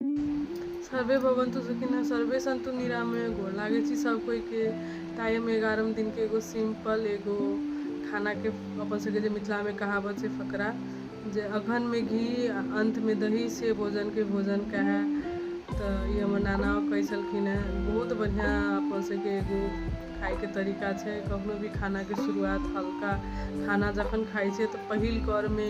survey भवन्तु सुखिन सर्वे सन्तु निरामय गोर लागै छी सब कोई के ताइ हम एगारहम दिन के एगो सिंपल एगो खाना के अपन सबके जे मिथिला में कहावत छै फकरा जे अगहन में घी आ अंत में दही से भोजन के भोजन कहे तऽ ई हमर नाना कहै छलखिन हेँ बहुत बढ़िआँ अपन सबके एगो खायके तरीका छै कखनो भी खानाके शुरुआत हल्का खाना जखन खाइ छै तऽ पहिल करमे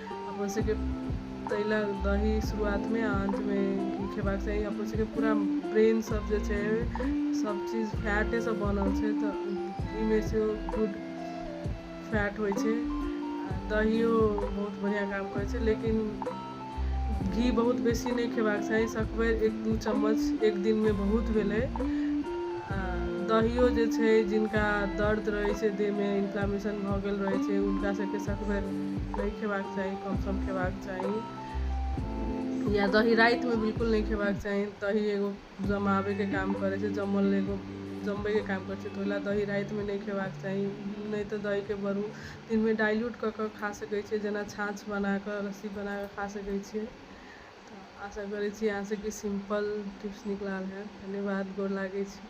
अपन सबके ताहि लए दही शुरुआतमे आ अन्तमे घी खेबाक चाही अपन सबके पूरा ब्रेन सब जे छै सब चीज फैटे से बनल छै तऽ ईमे से गुड फैट होइ छै आ दहियो बहुत बढ़िआँ काम करै छै लेकिन घी बहुत बेसी नहि खेबाक चाही सकबेर एक दू चम्मच एक दिनमे बहुत भेलै दहियो जे छै जिनका दर्द रहै छै देहमे इन्फ्लामेशन भऽ गेल रहै छै हुनका सबके सखबेर नहि खेबाक चाही कम सम खेबाक चाही या दही रातिमे बिल्कुल नहि खेबाक चाही दही एगो जमाबैके काम करै छै जमल एगो जमबैके काम करै छै तऽ ओहि लए दही रातिमे नहि खेबाक चाही नहि तऽ दहीके बरू दिनमे डाइल्यूट कऽ कऽ खा सकै छियै जेना छाँछ बना कऽ लस्सी बना कऽ खा सकै छियै तऽ आशा करैत छी अहाँसभके सिम्पल टिप्स नीक लागल हएत धन्यवाद गोर लागैत छी